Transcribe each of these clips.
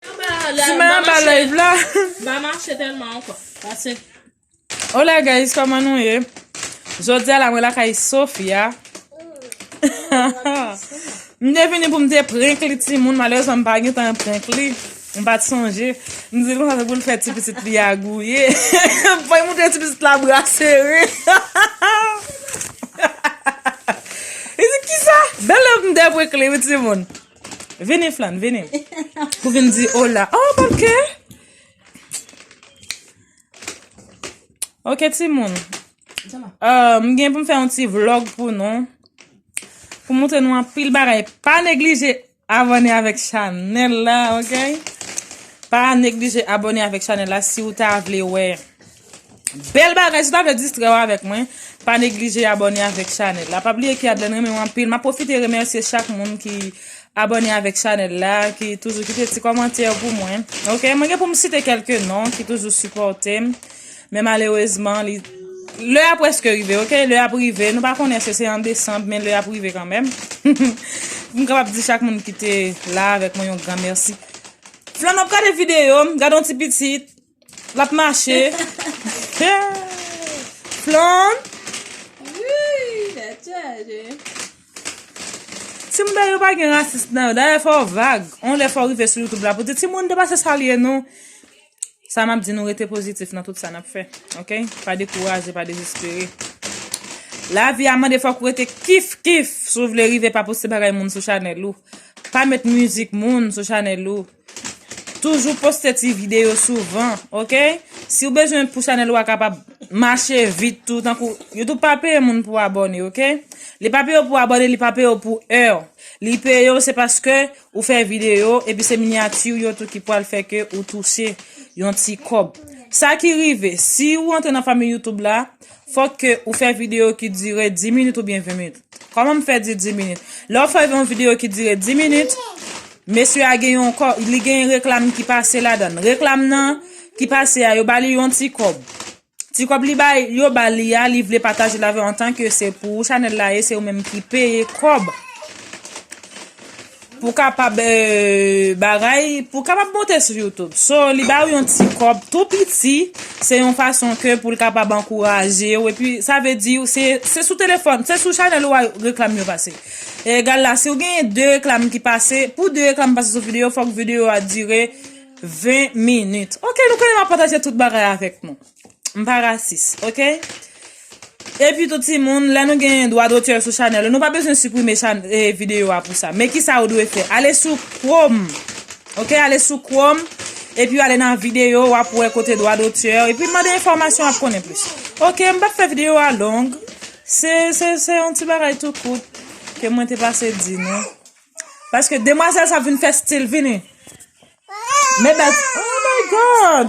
Sima ba live la. Ba mache telman anko. Pase. Hola guys, koman nou ye? Jodi a la mwen la kay Sofia. M te vini pou m te prenk li ti moun, malerezman m pa gen tan prenk li. M pa t sonje. M di l konsa se pou l fè ti pitit li a gouye. M fè moun te ti pitit la bra sere. Li di kisa? Bel love m te prenk li wi ti moun. Vini flan, vini. Pou vin di hola. Oh, ok. Ok, ti moun. Euh, m gen pou m fè yon ti vlog pou nou. Pou moutre nou an pil bagay. Pa neglije abone avèk chanel la, ok? Pa neglije abone avèk chanel la si ou ta vle wè. Bel bagay si ta vle distrè w avek mwen pa neglije abone avek chanel la pa bliye ki adlen renmen w anpil ma profite remesye chak moun ki abone avek chanel la ki toujou kite ti komantè pou mwen ok mwen gen pou m site kelke non ki toujou sipote m men malerezman li Le a preske rive, ok? Le a prive. Nou pa konnen se se an desanb, men le a prive kanmen. Mwen kapap di chak moun ki te la avèk mwen yon gran mèsi. Flan ap gade videyo, gade yon ti pitit. Lap mache. Flon. Wouy, la chaje. Timoun da yo pa gen rasis nan yo. Da yo fò vag. On lè fò rive sou YouTube la pou di timoun de pa se sa liye nou. Sa map di nou rete pozitif nan tout sa nap fè. Ok? Pa dekouraje, pa dezespere. La vi a mande fòk ou rete kif kif. Si w vle rive pa poste bagay moun sou chanèl ou. Pa met mizik moun sou chanèl ou. Toujou poste ti video souvan ok Si ou bezwen pou chanel ou a kapab mache vit tou tankou Youtube pa peye moun pou abone ok Li pa peye ou pou abone li pa peye ou pou heure Li peye ou se paske ou fè video epi se minyati ou yo tou ki pwal fè ke ou touche yon ti kòb Sa ki rive si ou antre nan fanmi Youtube la Fòk ke ou fè videyo ki dire 10 minit oubyen 20 minit. Kòman m fè di 10 minit? Lè ou fè yon videyo ki dire 10 minit, mesye a gen yon kò, li gen reklam ki pase ladan l. Reklam nan ki pase a, yo ba li yon ti kòb. Ti kòb li bay, yo ba li a, li vle pataje l avè w antanke se pou ou chanèl la ye, se ou menm ki peye kòb. Pou kapab bagay, pou kapab monte sou YouTube. So, li ba ou yon ti kòb tou piti, se yon fason ke pou l kapab ankouraje ou, epi sa vle di ou se, se sou telefòn, se sou chanèl ou a reklam yo pase. E egal la, si ou genyen 2 reklam ki pase, pou 2 reklam pase sou videyo, fòk videyo a dire 20 minit. Ok, nou konnen m ap pataje tout bagay avèk nou. M pa rasis ok Epi tou timoun lè nou gen dwa dotè sou chanèl nou pa bezwen siprime video a pou sa men kisa ou dwe fè ale sou chrome ok ale sou chrome Epi ale nan video wap wè kote dwa dotè epi mande enfòmasyon wap konnen plis ok m pap fè video a long se se yon ti bagay tou kout ke mwen te pase di nou paske demwazèl sa vin fè stil vini. Men bèl Oh my God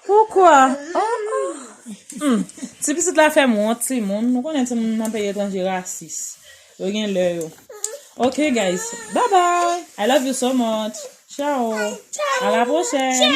Poukwa Humm Ti pitit la fèm wont timoun Nou konnen timoun nan peyi etranje rasis Yo gen lè yo Ok guys Bye bye I love you so much Ciao A la prochèn.